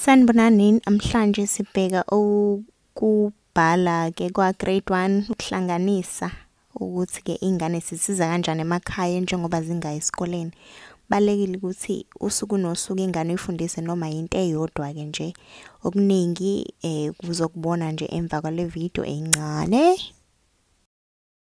Sanibonani namhlanje sibheka okubhala ke kwa grade 1 ukuhlanganisa ukuthi ke ingane sisiza kanjani emakhaya njengoba zingayi esikoleni. Balekile ukuthi usuku nosuku ingane uyifundise noma into eyodwa ke nje. Okuningi eh kuzokubona nje emva kwale video encane.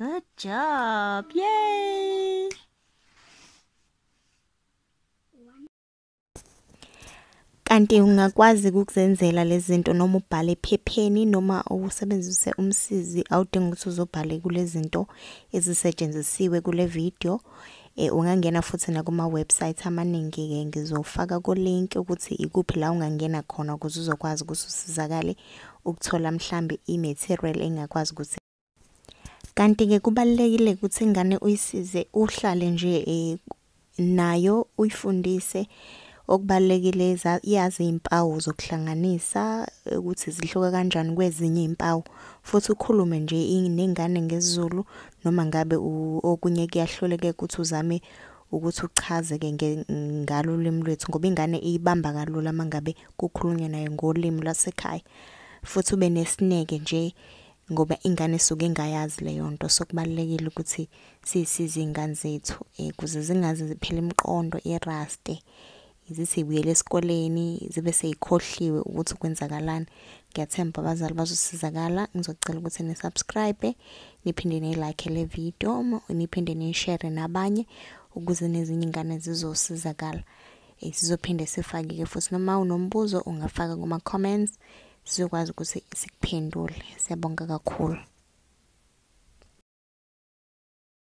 Good job. Yay! Kanti ungakwazi ukuzenzela lezi zinto noma ubhale ephepheni noma usebenzise umsizi awudingi ukuthi uzobhale kule zinto ezisetshenzisiwe kule video. E, ungangena futhi nakuma-websayithi amaningi-ke ngizofaka ku-link ukuthi ikuphi la ungangena khona ukuze uzokwazi ukuthi usizakale ukuthola mhlambe i-material engakwazi ukuthi Kanti-ke kubalulekile ukuthi ingane uyisize uhlale nje um nayo uyifundise okubalulekile yazi iy'mpawu zokuhlanganisa ukuthi zihluka kanjani kwezinye iy'mpawu futhi ukhulume nje nengane ngesiZulu noma ngabe okunye kuyahluleke ukuthi uzame ukuthi uchazeke ngalo ulimi lwethu ngoba ingane iyibamba kalula uma ngabe kukhulunywa nayo ngolimi lwasekhaya futhi ube nesineke nje ngoba ingane suke ingayazi leyo nto sokubalekile ukuthi sisize ingane zethu eh kuze zingaze ziphele imiqondo iraste zisibuyele esikoleni zibe seyikhohliwe ukuthi kwenzakalani ngiyathemba abazali bazosizakala ngizocela ukuthi ni subscribe niphinde ni like le video niphinde ni share nabanye ukuze nezinye ingane zizosizakala eh, sizophinde sifake ke futhi noma unombuzo ungafaka kuma comments sizokwazi ukuthi sikuphendule siyabonga kakhulu